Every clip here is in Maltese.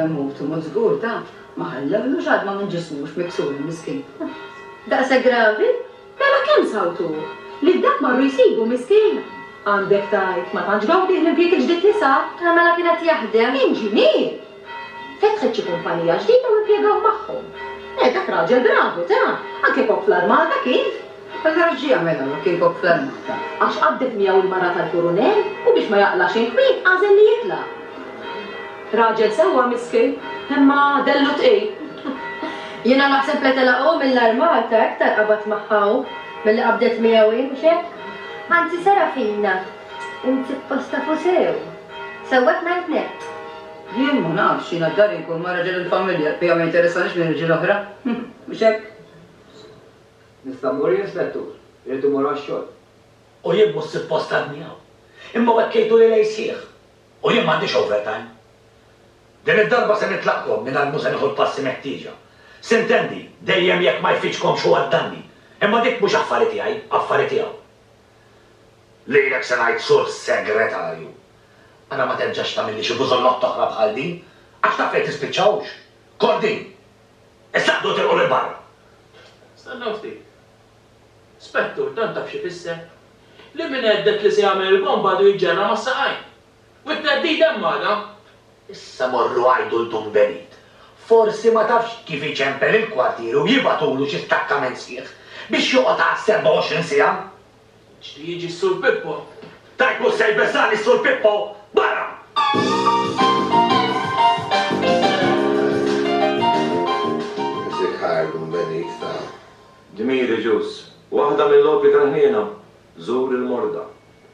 Hu b'tmut żgur ta, ma ħallewlux għadma minn ġismu x' miksur il-miskin. Daqshekk gravi? Mela kemm sawt hu? Lil dak marru jsibu miskin? Għandek tgħid, ma tantx gawdih l-impjieg il-ġdid li sab? Mela kien qed jaħdem? Inġinier! Fetħet xi kumpanija ġdida u impjegaw magħhom. Eh, dak raġel bravu, ta! Anke kok fl-armata kien! Meta għax ġie jagħmel hekk jekk kien kok fl-armata? Għax qabdet miegħu l-mara tal-kurunell u biex ma jaqlax il-kwiet għażel li jitla'. Raġel sewwa miskin, imma dellu tqil. Jiena naħseb li telaqgħu mill-armata iktar qabad magħha hu milli qabdet miegħu hi, mhux hekk? Anzi, Serafina. Int suppost tafu sew. Sewwek ngħid nett. Jien ma nafx, jiena f'dari nkun ma' raġel il-familja, l-bqija ma jinteressanix minn irġiel oħra. Mhux hekk? Nista' mmur jien, Spettur? Irrid immur għax-xogħol. U jien mhux suppost għadni hawn. Imma u hekk jgħidu li lejl sħiħ. U jien m'għandix overtime. Din id-darba se nitlaqkom mingħajr mhu se nieħu l-passi meħtieġa. Sintendi, dejjem jekk ma jfiċkomx hu għad-danni. Imma dik mhux affari tiegħi, affari tiegħu. Lilek se ngħid Sur Segretarju, ara ma terġax tagħmilli xi bużollott oħra bħal din, għax taf fejn tispiċċa hux? Kordin! Issa qdu tilqu lil barra! Stennew ftit. Spettur, tant taf x'ifisser? Li min għeddek li se jagħmel il-bomba għadu jiġġerra mas-saqajn! U t-theddid hemm magħna. Issa morru għajdu 'l Dun Benit. Forsi ma tafx kif iċempel il-kwartieri u jibagħtulu xi stakkament sħiħ biex joqgħod għal 27 siegħa. Ġli jiġi s-Sur Pippo. Tajt mhux se jbeżżagħni s-Sur Pippo! Barra! Music Hire Dun Benit ta. Dmiri Ġus. Waħda mill-logħob li tal-ħniena. Żur il-morda.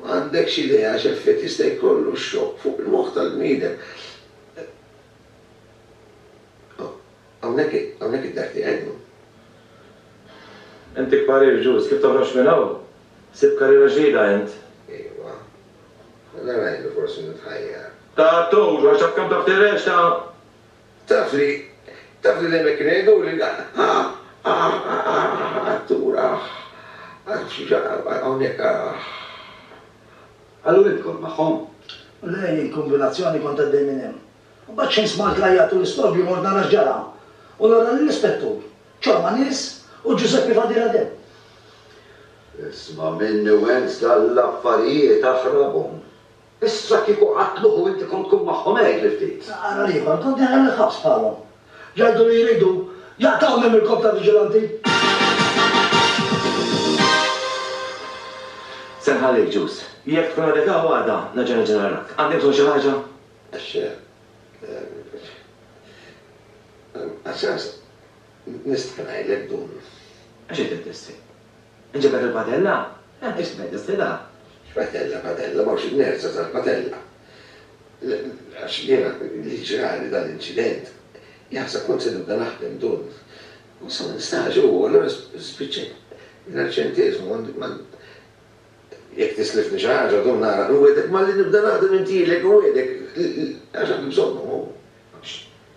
Ma għandekx idea x'effett jista' jkollu x-xokk fuq il-moħħ tal-bniedem. Hawnhekk id-dar tiegħi llum. Intik parir ġust, kif toħroġ minn hawn? Sib karriera ġdida int? Iva. Mela ngħidu forsi nitħajjar. Ta' attur, għax taf kemm taf tirreċta? Taf li, taf li dejjem hekk kienu jgħiduli, dan, ah, ah, ah, ah, attur, ah, ah, xi ġa, hawnhekk, ah. Qallu int kont magħhom? Le, jien kombinazzjoni kont għaddej minn hemm. Imbagħad x'ħin smajt l-għajjat u l-istobju mort nara x'ġara u nara lill-Ispettur, Ċorma Nies u Ġużeppi Fadil Adem. Isma' minni u ens dallaffarijiet aħrabhom. Issa kieku qatluh u inti kont tkun magħhom għid li ftit. Ara l-ieħor, kont daħal il-ħabs bħalhom. Jgħidu li jridu jaqtgħuni mill-korp ta' viġilanti. Se nħallik, Ġus. Jekk tkun għadek hawn għada, nerġa' niġi narrak. Għandi bżonn xi ħaġa? Għax, għax, nista' ngħidlek dun. Għax qed iddissi? Inġibed il-padella? Eh, ixtbed, is-sida? X'padella, padella, m'hawnx inerza tal-padella. Għax jiena li ġrali dan l-inċident, jaħseb kont se nibda naħdem dun. U sa ma nistax, u allura spiċċajt mingħajr ċenteżmu, ma jekk tislifni xi ħaġa dun nara, nwegħdek malli nibda naħdem intielek, nwegħdek, għax għandi bżonnhom, u għax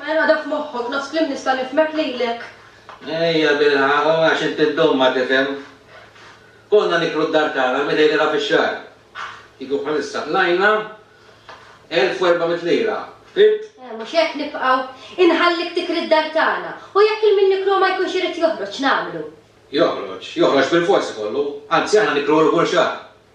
Mela dak moħħok, nofs kliem nista' nifhmek lilek. Ejja bilħaq, u għax inti ddum ma tifhem. Konna niklu d-dar tagħna l-mitej lira fix-xahar. Kieku bħalissa qlajna elf u erba' mitt lira. Fimt? Eh, mhux hekk nibqgħu. Inħallik tikri d-dar tagħna. U jekk il-min nikluha ma jkunx irid joħroġ, x'nagħmlu? Joħroġ, joħroġ bilfors ikollu. Anzi aħna nikluh kull xahar.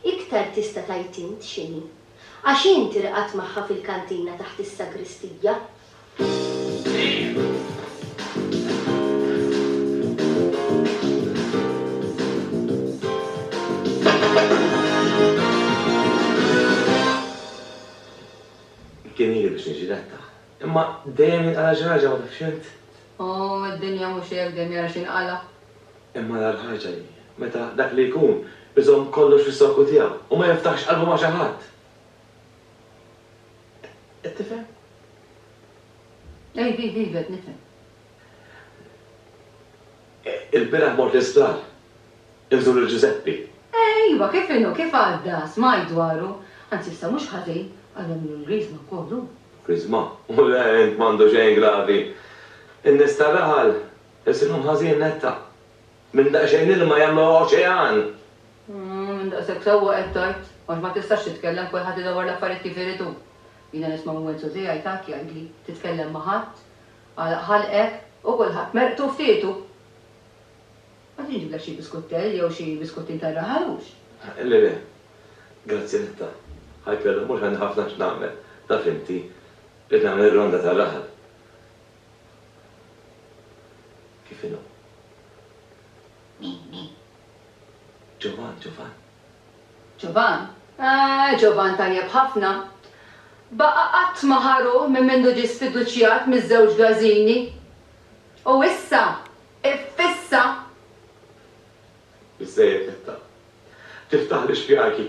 Iktar tista' tgħid int x'inhi. Għax int irqadt magħha fil-kantina taħt is-sagristija. Kien ili biex niġi letta. Imma dejjem jinqala' xi ħaġa ma tafx int? Omm, id-dinja mhux hekk, dejjem jara x'jinqala'. Imma l-agħar ħaġa hi meta dak li jkun iżomm kollox fis-sokku tiegħu u ma jiftaħx qalbu ma' xi ħadd. Qed tifhem? Iva, iva, iva, qed nifhem. Ilbieraħ mort l-isptar inżur lil Ġużeppi. Iva, kif inhu, kif għadda? Smajt dwaru. Anzi, issa mhux ħażin, għadha minnhom griżma wkoll hu. Griżma? U l-għerend m'għandu xejn gravi. In-nies tar-raħal Isibhom ħażin netta. Minn daqsxejn ilma jagħmluha oċean! Umm, minn daqshekk sewwa qed tgħid, għax ma tistax titkellem, kulħadd idawwar l-affarijiet kif irid hu. Jiena nisma' minn Wenzu tiegħi takk jgħidli, titkellem ma' ħadd, Alla ħalqek u kulħadd merqtu f'tietu! Għad inġiblek xi biskuttell jew xi biskuttin tar-raħal hux? Le le. Grazzi netta. Ħajkella mhux għandi ħafna x'nagħmel, taf inti, rrid nagħmel ir-ronda tar-raħal. Kif inhu? Ġovan, Ġovan. Ġovan? Eh, Ġovan tajjeb ħafna. Baqa' qatt ma ħa ruħ minn mindu ġie sfiduċjat miż-żewġ Gażini. U issa, iffissa! Biżżejjed Netta. Tiftaħli x'bjajki.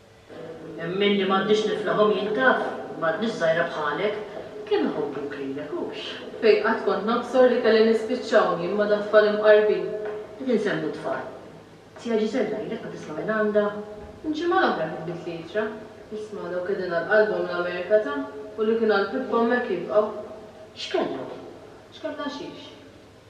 Hemm minni m'għandix niflahom jien taf, m'għadnix żgħira bħalek, kemm iħobbuk lilek hux. Fejn qatt kont nobsor li kelli nispiċċawn jien ma' dattfal imqarbin. Qed insemmu tfal. Zija Ġiżella ilek ma tisma' minn għandha? Il-ġimgħa l-oħra kitbitlli ittra, isma' dawk qegħdin għal qalbhom l-Amerika ta' u li kien għal pippa hemmhekk jibqgħu. X'kellhom? X'kellha xiex?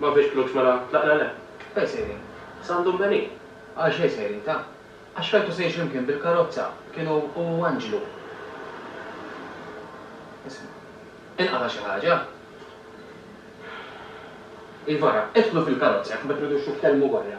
Ma fiex flux mela tlaq l-għela? Fejn sejrin? Sa għand omm Meli? Għal xejn sejrin ta? Għax rajtu sejr x'imkien bil-karozza, kienu hu u Anġlu. Isma'. Inqata' xi ħaġa? Iva ra, idħlu fil-karozza jekk ma tridux titkellmu barra.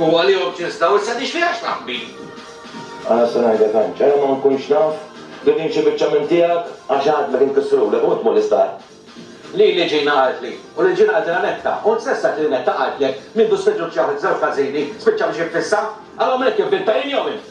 U għalihom tinstaw issa di x'fiha x'taħbin? Ara se ngħidlek għax. Era ma nkunx naf. Din hi xi biċċa minn tiegħek għax għad ma tinkisrulek u int tmur l-isptar. Lili Ġina qaltli. U lil Ġina qaltilha Netta. U int stess tgħid li Netta qaltlek, min du spiċċa b'xi waħda ta' żewġ każini, spiċċa biex jiffissa? Allura min qed jivvinta, jien jew int?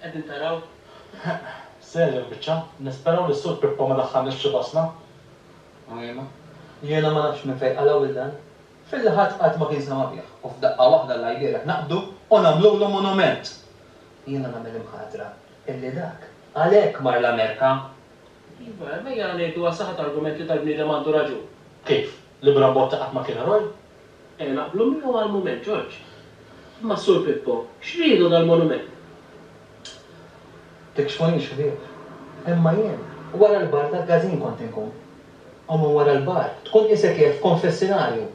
Qegħdin taraw? Serja l-biċċa. Nisperaw li s-Sur Pippo ma daħħalniex f'xi basna. Għajna. Jiena ma nafx minn fejn qalgħu lil dan. Filli ħadd qatt ma kien sema' bih. U f'daqqa waħda l-għajlielek naqbdu u nagħmlulu monument! Jiena nagħmel imħatra illi dak għalhekk mar l-Amerika. Iva, ejja ngħidu għas-saħħa ta' argument li dal-bniedem għandu raġun. Kif? Li Bram Botta qatt ma kien eroj? Eh, naqblu miegħu għall-mument, Ġorġ. Imma s-Sur Pippo, x'ridu dal-monument? Tikxfunix, ħbieb. Imma jien, wara l-bar tal-każin kont inkun. U minn wara l-bar, tkun qisek qiegħed f'konfessinarju.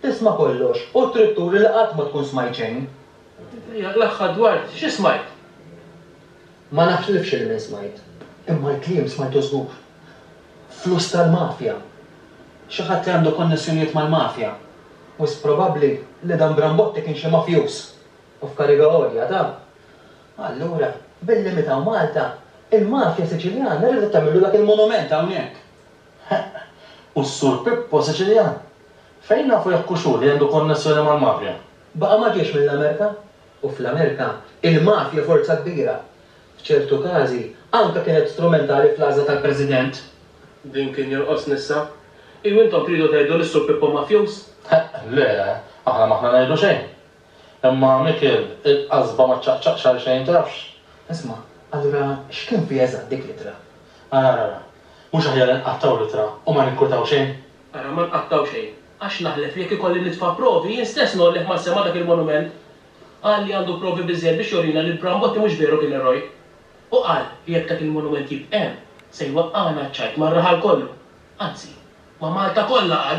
Tisma' kollox u trid turi li qatt ma tkun smajt xejn. L-aħħar dwar xi smajt? Ma naħlifx li min smajt. Imma l-kliem smajtu żgur. Flus tal-mafja. Xi ħadd li għandu konnessjonijiet mal-mafja. Wisq probabbli li dan Brambotti kien xi mafjuż. U f'kariga għolja ta'. Allura, billi miet hawn Malta, il-mafja Siċiljana riedet tagħmillu dak il-monument hawnhekk. Heq. U s-Sur Pippo Siċiljan? Fejn nafu jekk hux hu li għandu konnessjoni mal-mafja? Baqa' ma ġiex mill-Amerika. u fl-Amerika, il-mafja forza kbira, f'ċertu każi, anke kienet strumentali fl-għażla tal-President. Din kien jonqosni issa. Iju intom tridu tgħidu li s-Sur Pippo mafjuż? Le, aħna m'aħna ngħidu xejn. Imma Mikiel, il-qasba ma ċċaqċaqx għal xejn tafx. Isma', allura x'kien fiha eżatt dik l-ittra? Ara, ara, ara. Mhux aħjar inqattgħu l-ittra u ma ninkwetaw xejn? Ara, ma nqattgħu xejn, għax naħlef li jekk ikolli nitfa' provi, jien stess ngħollih mas-sema dak il-monument. Qal li għandu provi biżżejjed biex jurina li l-Bram Botti mhux veru kien eroj. U qal li jekk dak il-monument jibq' hemm, se jwaqqagħna ċ-ċajt mar-raħal kollu, anzi, ma' Malta kollha, qal.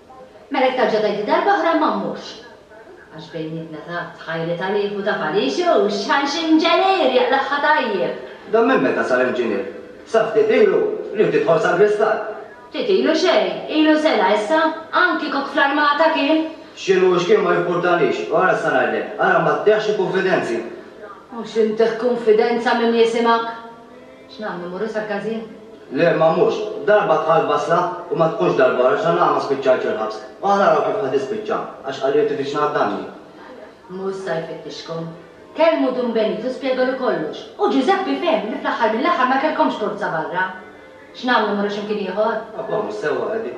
Mela jekk tarġa' tgħidli darb'oħra ma mmurx. Għax bejnietna taf, tħajli ta' riħ u ta' farix, u x'ħan x'inġenier jaqlagħha tajjeb! Dan minn meta sar inġinier? Sa ftit ilu, riħ tidħol sal-gristall! Ftit ilu xejn, ilu sena issa, anki kok fl-armata kien! X'inhu u x'kien ma jimpurtanix, u ara issa ngħidlek, ara ma ttiehx xi kunfidenzi! U x'intih kunfidenza min jisimak? X'nagħmlu, mmorru sal-każin? Le, ma mmurx. Darba dħalt basla u ma tkunx darba oħra x'għan nagħmel ma spiċċajtx il-ħabs. U aħna naraw kif ħa tispiċċa, għax qalli li tifittxna għad-danni. Mhu issa jfittixkom. Kellmu Dun Benito u spjegalu kollox. U Ġużeppi fehem li fl-aħħar mill-aħħar ma kellkomx korza barra. X'nagħmlu, mmorru xi mkien ieħor? Abba, mhux sewwa, Eddie.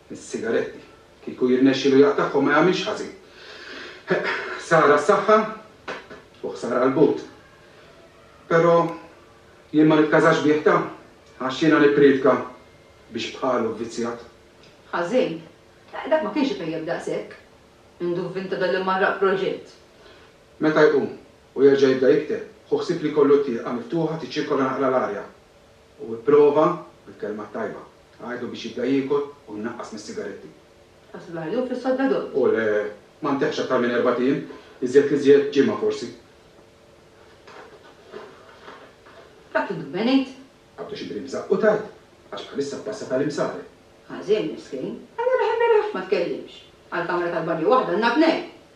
Is-sigaretti. Kieku jirnexxilu jaqtagħhom ma jagħmilx ħażin. Ħsara għas-saħħa u ħsara għall-but. Però jien ma nitkażax bih ta' għax jiena nippriedka biex bħalu vvizzjat. Ħażin? Eh, dak ma kienx ipejjep daqshekk. Għindu vvinta dal-imgħarraq proġett. Meta jqum u jerġa' jibda jikteb, hu ħsieb li jkollu t-tieqa miftuħa tiċċirkola naqra l-arja. U ipprova bil-kelma t-tajba. Għidlu biex jibda jiekol u jnaqqas mis-sigaretti. Ħasslu l-ħalib fis-sodda dott. U le, ma ntehhx aktar minn erbat ijiem, iżjed l-iżjed ġimgħa forsi. Dak inhu benejt. Għaddu xi brimża u tgħid, għax bħalissa ppassa ta' l-imsare. Ħażin, miskin. Allura ħen beni ħafna tkellimx. Għall-kamra tal-banju waħda għandna tnejn.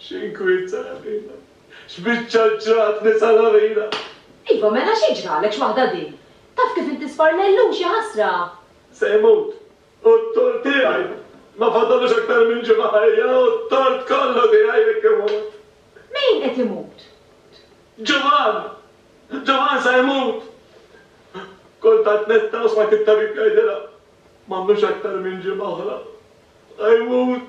X'inkwiet Salarina! X'biċċa ġratni Salarina! Iva mela xi ġralek x'waħda din? Taf kif inti sparnellux, ja ħasra! Se jmut! Hu t-tort tiegħi! Ma fadallux aktar minn ġimgħa ħajja u t-tort kollu tiegħi jekk imut! Min qed imut? Ġovan! Ġovan se jmut! Kont għad netta u smajt it-tabib jgħidilha, M'għandux aktar minn ġimgħa oħra. Se jmut!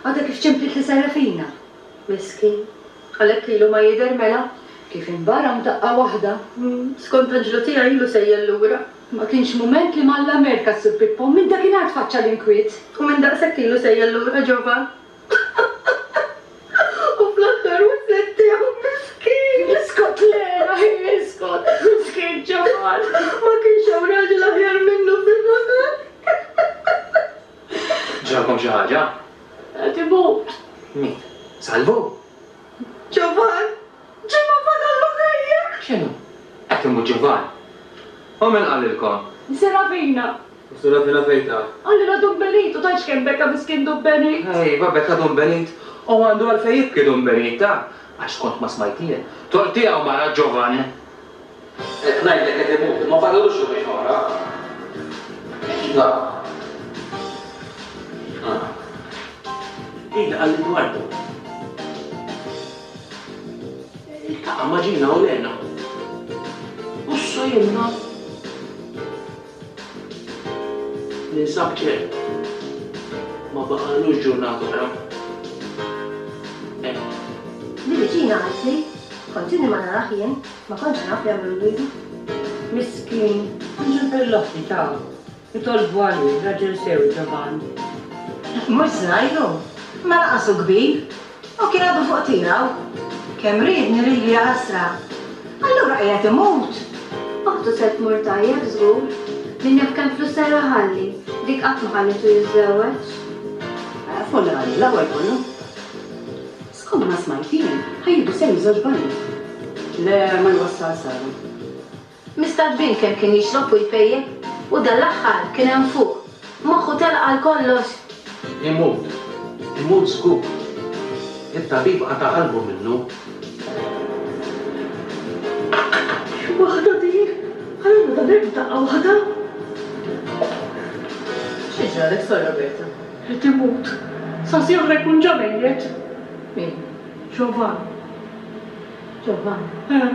Għadha kif ċemplit li Serafina. Miskin. Għalhekk ilu ma jidher mela? Kif inbara f'daqqa waħda. Skont Anġlu tiegħi ilu sejjel lura. Ma kienx mument li m'Alla merka s-Sur Pippo. Minn dakinhar tfaċċa l-inkwiet. U minn daqshekk ilu sejjel lura Ġovan. U fl-aħħar witled tiegħu. Miskin! Iskot Lera, hi iskot! Miskin Ġovan! Ma kienx hawn raġel aħjar minnu fir-raħal. Ġralkom xi ħaġa? Qed imut. Min? Salvu? Ġovan! Ġovan fadallu ħajja! X'inhu? Qed imut Ġovan? U min qalilkom? Serafina. U Serafina fejn taf? Qalilha Dun Benit u tgħidx kemm beka miskin Dun Benit. Ejwa beka Dun Benit u għandu għalfejn jibki Dun Benit taf għax kont ma smajt jien. Tort tiegħu mara Ġovan! Qed ngħidlek qed imut, ma fadallux jumejn oħra. Iva. Ah. Ejja għal Edwardo. Iltaqa' ma' Gina u Lena. Ussa' jemmna. Ninsab ċert, ma baqalux ġurnata oħra. Hemm. Mill-viċin anzi, kont inni ma narah jien, ma kontx naf jagħmlu l-wieżi. Miskin, mhux il-perlotti ta', itolbu għalih, raġel sew ġoban. Mhux żgħir hu, imma lanqas hu kbir, U kien għadu fuq tiegħu. Kemm riedni lili jagħasra! Allura qiegħed imut! Oħtu se tmur tajjeb żgur. Min jaf kemm flus ser iħalli. Dik qatt ma ħallitu jiżżewweġ. Folla għalih l-aħwal kollu. Skond ma smajt jien, ħa jieħdu sehem iż-żewġ banjiet. Le, ma jwassal sara. Mistad bint kemm kien jixrob u jpejjep, u dan l-aħħar kien hemm fuq, moħħu telaq għal kollox! Imut. Imut żgur. It-tabib qata' qalbu minnu. X'waħda din! Allura dan hemm daqqa waħda! Xi ġralek, Sor Roberta? Qed imut. Sasi oħra jkun ġa mejjet. Min? Ġovann. Ġovann? Eh.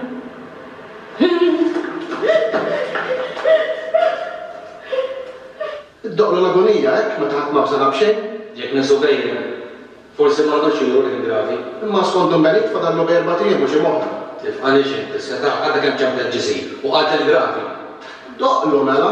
Iddoqlu l-agonija hekk meta ħadd ma bżonha b'xejn? Jekk nesu bejniehom, forsi ma għadux juru l-ħin gravi. Imma skont Dun Benit fadallu bejn erbat ijiem u ġimgħa oħra. Tifqanix int, is-setgħa għadha kemm ċappet ġisir u qal ħin gravi! Iddoqlu mela!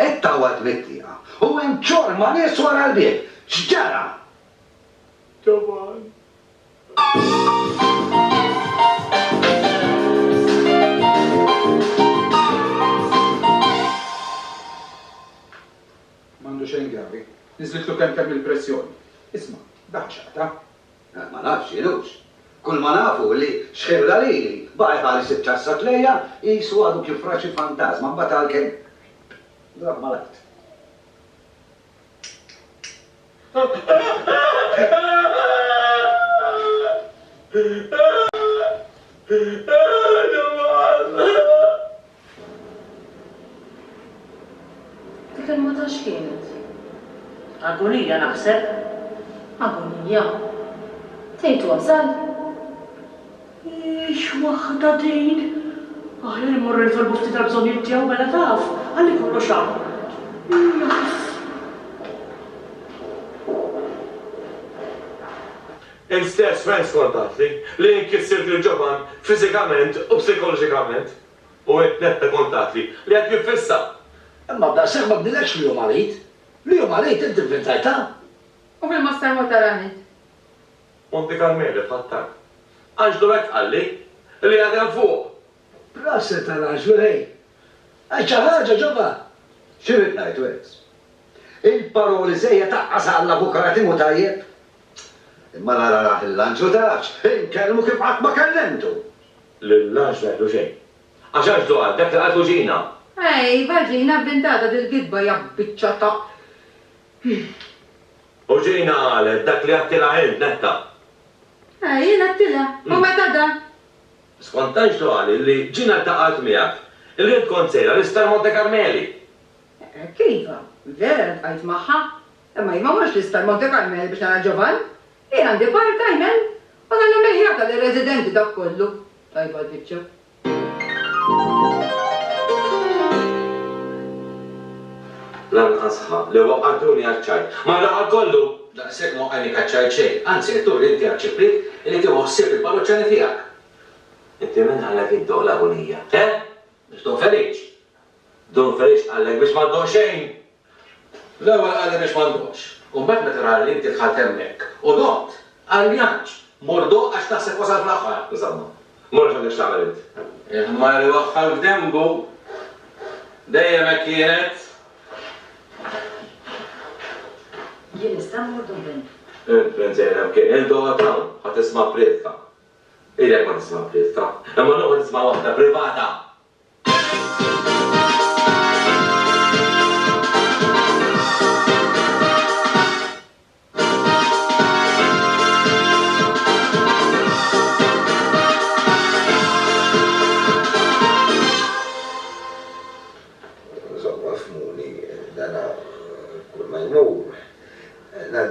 Qed tgħawwad mit-tieqa u hemm ċorma nies wara l-bieb! X'ġara? M'għandu xejn gravi. Niżlitlu kemmkemm il-pressjoni. Isma', dak x'qata'? Ma nafx, Jienux. Kulma naf hu li xħirla lili, baqa' jħares it-tassa tlejha qisu għadu kif ra xi fantażma, imbagħad għalkemm drapp mal-art. Dik il-mata x'kienet? Agonija naħseb. Agonija? Tgħid wasal? Hix waħda din! Aħjar immorru nitolbu ftit għall-bżonnijiet tiegħu mela taf, ħalli kollox hawn. Jaf. Int stess fejn skordatli li jien kissirt lil Ġovann fiżikament u psikoloġikament? U int nett ta' kuntatli li qed niffissa? Imma daqshekk ma bdilekx li hu marid. Li hu marid int ivvintajtha? U fil-Moster Motara Nett? Monte Carmele bħat-tank. Anġlu hekk qalli, li għad hemm fuq. Proset għal għaġlu ħej! Għal xi ħaġa ġobha! Xi rrid ngħid wis? Il-paroli żejjed tgħaqqas Alla fuq Krati mhu tajjeb? Imma nara rah il-lanġlu tarax! Inkellmu kif qatt ma kellimtu! Lill-lanġlu jgħidlu xejn. Għax anġlu qal dak li qaltlu Ġina! Ej, iva Ġina, bint għada dil-gidba ja biċċa ta'. U Ġina qalet dak li għedtilha int, Netta! Ej, jien għedtilha! U meta da? Skont Tanġtu qal li Ġina ltaqgħet miegħek. Il-Red kont sejra l-Isptar Monte Carmeli! Hekk iva, vera ltqajt magħha. Imma jien ma mmorx l-Isptar Monte Carmeli biex nara Ġovann. Jien għandi part time hemm u nagħmel meħjata lir-residenti dak kollu. Tajba l-biċċa. Lanqas ħa li waqgħtuni għaċ-ċajt. Mar raħal kollu! Daqshekk ma inikaċċajt xejn, anzi qed turi inti għaċ-Ċiprit illi tieħu ħsieb il-parroċċani tiegħek. Inti min qalek iddoq l-agunija? Eh? Biex tdum feliċ? Dum feliċ qalek biex ma ddoqx xejn? L-ewwel qalli biex ma ndoqx, u mbagħad meta ra li inti dħalt hemmhekk u doqt, qalli għanġ, mur doq għax taħseb wasal fl-aħħar. Insomma, Mhux dak li x'tagħmel int. Il-ħmar iwaħħal f'denbu. Dejjem hekk kienet. Jien nista' mmur Dublin. Il-Prince jgħid hemm kien. Int oqgħod hawn. Ħa tisma' prietka. Ilek ma tisma' prietka. Imma noqgħod nisma' waħda privata!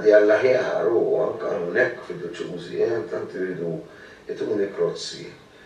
ngħaddi għall-aħjar u anke hawnhekk fiduċjużi tant iridu jtuni krozzi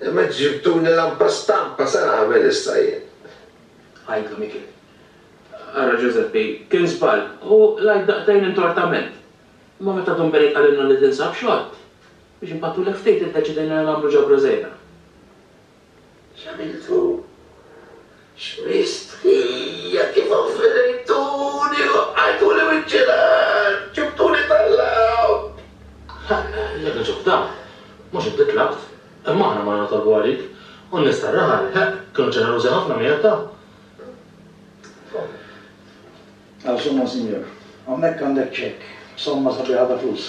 Imma ġġibtuni lampa stampa, sa nagħmel issa jien? Għidlu Mikiel. Ara Ġużeppi, kien żball, u l-għid daqtejn intortament. Imma meta Dun Benet qalilna li tinsab xogħol, biex npattulek ftit iddeċidejna li nagħmlu ġabra żgħira. X'għamiltu? X'mistħija kif offendejtuni, waqqajtuli wiċċi l-art, ġibtuli tal-lgħob! Ħa, jekk niġu f'dan, mhux inti tlabt, imma aħna morna nitolbu għalik, u n-nies tar-raħal, ħa, kienu ġenerużi ħafna miegħek, ta. Għal somma, Sinjur. Hawnhekk għandek ċekk b'somma sabiħa ta' flus.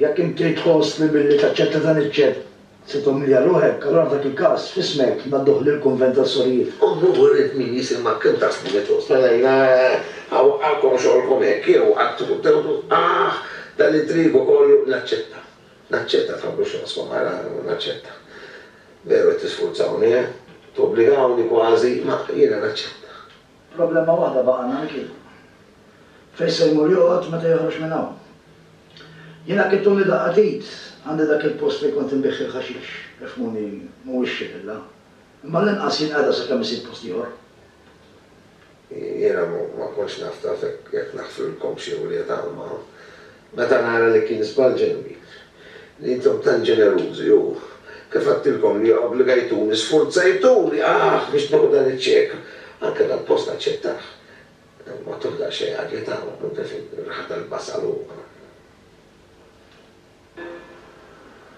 Jekk inti tħoss li billi taċċetta dan iċ-ċek se tummilja ruħek, allura f'dak il-każ, f'ismek, ngħadduh lill-Kunvent tas-Sorijiet. Ommu wriet min jisimha kemm ta' snin li tħossha lejna, ha waqqagħkom xogħolkom hekk, jew qatt tkun tewwdu, aħ, dan l-intrigu kollu, naċċetta, naċċetta, tħabbux rashkom, ara, naċċetta. Veru qed tisfurzawni, eh? Tobbligawni kważi, ma jiena naċċetta. Problema waħda baqa' għandna Mikiel. Fejn se jmur joqgħod meta joħroġ minn hawn? Jiena kif tuni daqqa t'id, għandi dak il-post fejn kont inbigħ il-ħaxix, ifhmuni mhuwiex xi villa, imma għall-inqas jien qiegħda sakemm isib post ieħor. Jiena ma kontx naf taf jekk naħfrilkomx jew le talma. Meta nara li kien żball ġenwi, li intom tant ġenerużi u, kif għedtilkom li obbligajtuni, sfurzajtuni, aħ, biex nieħu dan iċ-ċek, anke dal-post aċċettah. Ma tuh daqsxejn għadja ta' hawn, imtef ir-riħa tal-basal u.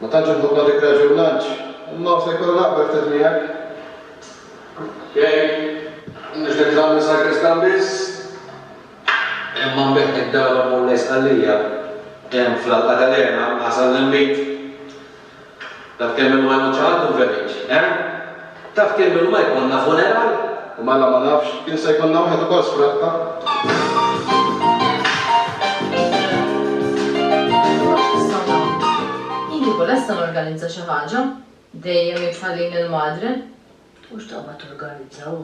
Ma tantx inħobbha dik Raġel Lunch, imma se jkolli naqbel ftit miegħek. Jgħid, Mhux li nitlaq minn Sagristan biss, imma nbigħ id-dar u mmur lejn Sqallija, hemm fl-Alqa ta' l-Għena, Ħasan l-Inbid. Taf kemm ilu ma jmut xi ħadd u nferiġ, eh? Taf kemm ilma jkollna funeral? U mela ma nafx, kien se jkollna wieħed ukoll Kieku lesta norganizza xi ħaġa, dejjem jitħallini l-madre. U x'taqbad torganizza hu?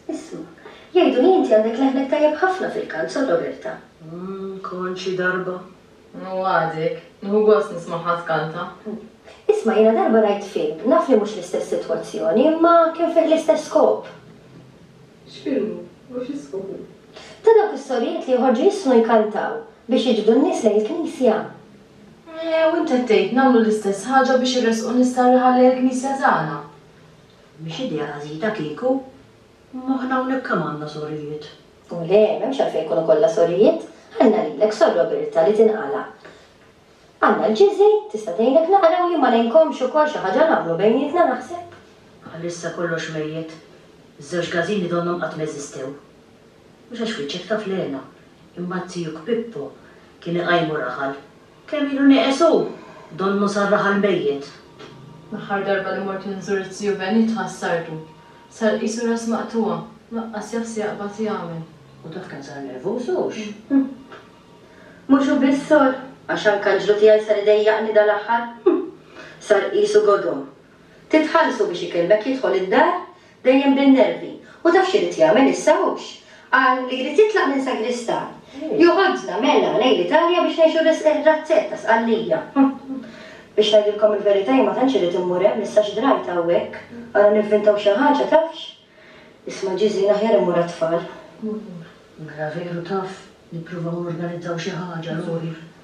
Isma', jgħidu li inti għandek leħnek tajjeb ħafna fil-kant, Sor Roberta. Mmm, kont xi darba. Ngħuwadek, nieħu gost nismagħha tkanta. Isma' jiena darba rajt film, naf li mhux l-istess sitwazzjoni, imma kien fih l-istess skop. X'film hu u xi skop hu? Ta' dawk is-sorijiet li joħorġu jissnu jkantaw biex jiġbdu n-nies lejn il-knisja. Eeh, u int qed tgħid nagħmlu l-istess ħaġa biex irressqu nies tar-raħal lejn il-knisja tagħna? Mhix idea għażiża kieku. Imma aħna hawnhekk kemm għandna sorijiet? U le, m'hemmx għalfejn ikunu kollha sorijiet. Ħallna lilek, Sor Roberta, li tinqala'. Għandna l-Ġiżi, tista' tgħinek naqra u jien ma ngħinkomx ukoll xi ħaġa nagħmlu bejnietna naħseb. Bħalissa kollox mejjet. Iż-żewġ każini donnhom qatt ma eżistew. Mhux għax wiċċek taf l-hena, imma t-tijuk Pippo kien iqajmu raħal. Kemm ilu nieqes hu! Donnu sar raħal mejjet. L-aħħar darba li mort inżur it-tiju Benit ħassartu. Sar qisu ras maqtugħa, laqqas jaf se jaqbad jagħmel. U dak kemm sar nervuż hux! Hm! Mhux hu biss sor, għax anke aġlu tiegħi sar idejjaqni dal-aħħar. Hm! Sar qisu godo. Titħallsu biex ikellmek jidħol id-dar, dejjem bin-nervi. U taf x'irid jagħmel issa hux? Qal li jrid jitlaq minn Sagristan. Joħodna, mela, lejn l-Italja biex ngħixu r-razzett ta' Sqallija. Biex ngħidilkom il-verità jien ma tantx irrid immur hemm issa x'drajt hawnhekk. Ara nivvintaw xi ħaġa, tafx? Isma' Ġiżin aħjar immur għat-tfal. Mela veru taf, nippruvaw norganizzaw xi ħaġa, Lori.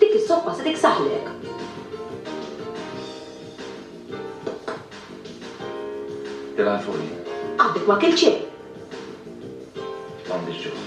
Dik is-soppa se tiksaħlek! Tilgħanfuni. Għadek ma kilt xejn! M'għandix ġuħ.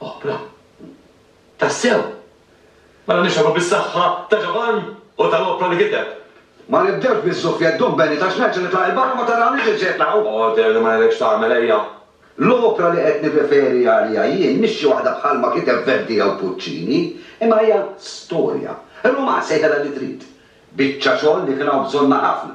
Opra. Tassew! Mela nixhadu bis-saħħa ta' Ġovann u tal-opra li kiteb. Ma nibdewx biz-zuffjett ddum Benny ta' x'nerġa' nitla' 'il barra u ma tarawniex lil xi qed naqgħu. Other li ma ngħidlekx x'tagħmel ejja. L-opra li qed nirreferi għaliha jien mhix xi waħda bħal ma kiteb Verdi jew Puccini, imma hija storja. Rumanz sejħilha li trid. Biċċa xogħol li kien hawn bżonnha ħafna.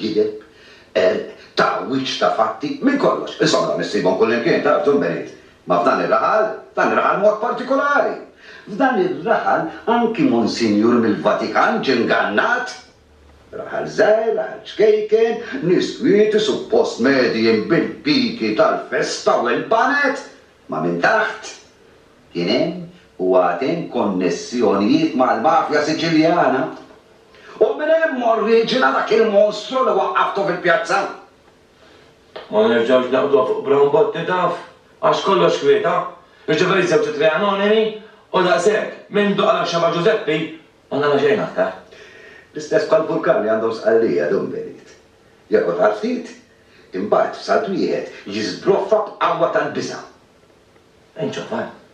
gideb, qerq, tagħwiġ ta' fatti, minn kollox. Insomma, dawn issibhom kullimkien, taf, John Benit. Ma f'dan ir-raħal, f'dan ir-raħal mod partikulari. F'dan ir-raħal anki Monsinjur mill-Vatikan ġie ngannat. Raħal żgħir, raħal ċkejken, nies kwieti, suppost medijin bil-piki tal-festa u l-baned, ma minn taħt kien hemm u għad hemm konnessjonijiet mal-mafja Siċiljana. U minn hemm oriġina dak il-monstru li waqqaftu fil-pjazza. Ma nerġgħux naqbduha fuq Brown Botti taf, għax kollox kwieta, jiġifieri żewġ ittri anonimi u daqshekk, minn duq għal Xeba' Ġużeppi, ma nara xejn aktar. L-istess bħall-vulkan li għandhom Sqallija dum benit. Jorqod għal ftit, imbagħad f'salt wieħed jiżbroffa b'qawwa tal-biża'. Inċofar.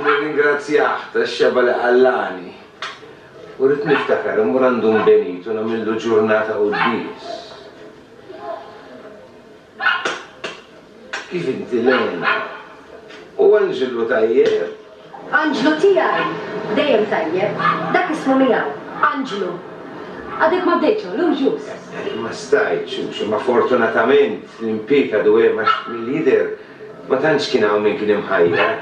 Nirringrazzjah tax-xebgħa li qallagħni u rrid niftakar immur għand Dun Benito u nagħmillu ġurnata quddies. Kif inti Lena? U Anġlu tajjeb? Anġlu tiegħi! Dejjem tajjeb. Dak ismu miegħu. Anġlu. Għadek ma bdejtx hawn, llum ġust. Ma stajtx, Xu, imma fortunatament l-impieg għadu hemm għax mill-jidher, Ma tantx kien hawn min kien imħajjar.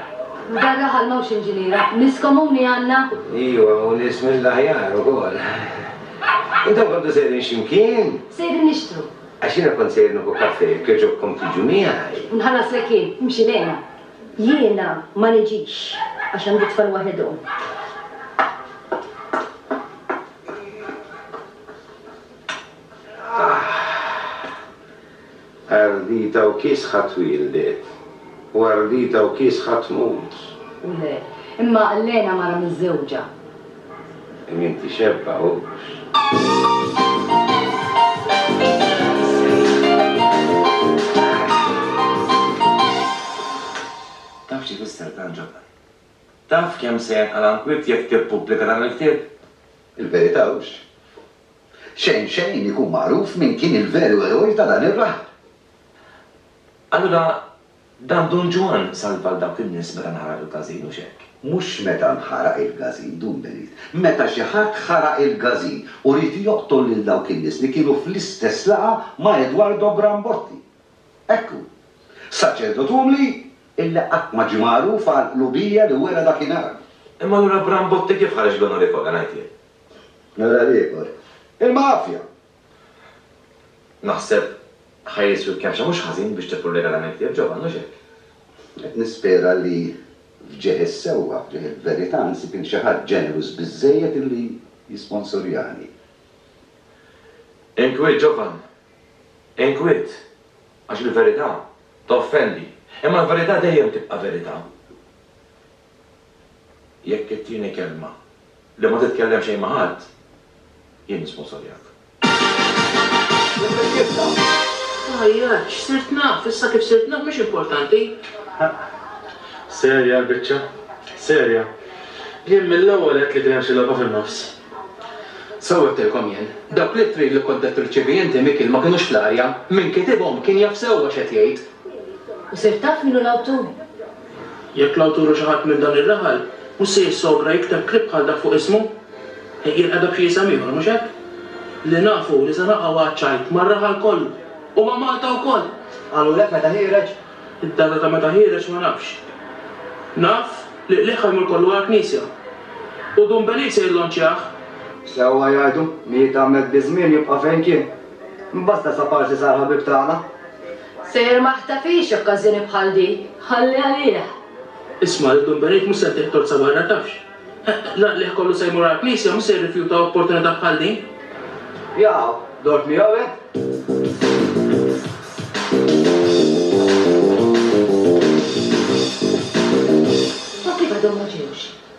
F'dan raħal m'hawnx inġiniera. Nies komuni għandna? Iva, u nies mill-aħjar ukoll. Intom kontu sejrin xi mkien? Sejrin nixtru. Għax jiena kont sejjer nieħu kafè, jekk jogħġobkom tiġu miegħi. U nħallaslek jien. Imxi lejna. Jiena ma niġix, għax għandi t-tfal waħedhom. Aħ! Ardita u kiesħa twieldet, u ardita u kiesħa tmut. U le, imma Allena mara miżżewġa. Li m'intixebbahux. Taf x'ifisser dan, Ġofaj? Taf kemm se jenqala' nkwiet jekk tippubblika dan il-ktieb? Il-verità hux Xejn xejn ikun magħruf min kien il-veru eroj ta' dan ir-raħal. Allura dan Dun Ġwann salva 'l dawk in-nies meta nħaraq il-każin, hux hekk? Mhux meta nħaraq il-każin, Dun Benit. Meta xi ħadd ħaraq il-każin u ried joqtol lil dawk in-nies li kienu fl-istess laqgħa ma' Edwardo Brambotti. Hekk hu. Saċerdot umli illi qatt ma ġie magħruf għall-qlubija li wera dakinhar. Imma allura Brambotti kif ħareġ l-onorifoga, ngħid jien? Nara l-ieħor. Il-mafja! Naħseb ħa jiswi kemxejn mhux ħażin biex tieħu regalamenti tiegħek Ġovanni, hux hekk? Qed nispera li f'ġieħ is-sewwa, f'ġieħ il-verità, nsib lil xi ħadd ġenerus biżżejjed li jisponsorjani. Inkwiet, Ġovanni. Inkwiet. Għax il-verità toffendi. Imma l-verità dejjem tibqa' verità. Jekk it-tieni kelma, li ma titkellem xejn ma' ħadd, jien nisponsorjak. Tgħajjatx, sirt naf, issa kif sirt naf mhix importanti. Serja l-biċċa? Serja? Jien mill-ewwel għedt li kien hemm xi logħba fin-nofs. Sew għedtilkom jien, dawk l-ittri li kont qed tirċievi inti Mikiel ma kinux fl-arja, min kitibhom kien jaf sewwa x'qed jgħid. U sirt taf min hu l-awtur? Jekk l-awtur hu xi ħadd minn dan ir-raħal, mhux se jissogra jikteb klieb bħal dak fuq ismu? Jirqedha b'xi isem ieħor, mhux hekk? Li naf hu li se naqgħu għaċ-ċajt mar-raħal kollu, u ma' Malta wkoll! Qalulek meta ħiereġ? Id-data ta' meta ħiereġ ma nafx. Naf li qligħ ħajmur kollu għall-knisja. U Dun Beliz se jillonċjah! Sewwa jgħidu, Miet Ahmed bi żmien jibqa' fejn kien. Imbagħad stess aparsi sar ħabib tagħna. Sejjer ma ħtafhiex okkażjoni bħal di, ħalli għalih. Isma' lil Dun Benejt mhux se ntiegħek tozza barra tafx. L-għaqlieh kollu se jmur għall-Knisja mhux se jirrifjuta opportunità bħal din. Jaqaw, dort miegħu hekk. U kif għadhom ma ġewx?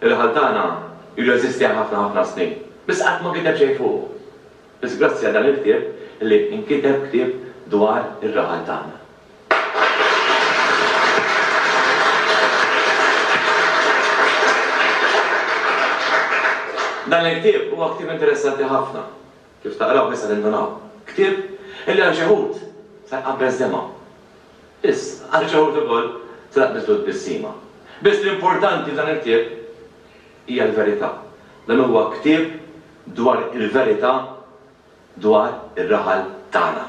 Il-ħal tagħna ilu jeżisti għal ħafna ħafna snin, biss qatt ma kiteb xejn fuqu. Biss grazzi għal dan il-ktieb li inkiteb ktieb dwar ir-raħal tagħna. Dan il-ktieb huwa ktieb interessanti ħafna Kif taqraw nista' nindunaw. Ktieb illi għal xi wħud sar qabbeż demgħa. Biss, għal xi wħud ukoll sar qabbeż lut bissima. Biss l-importanti f'dan il-ktieb hija l-verità. Dan huwa ktieb dwar il-verità dwar ir-raħal tagħna.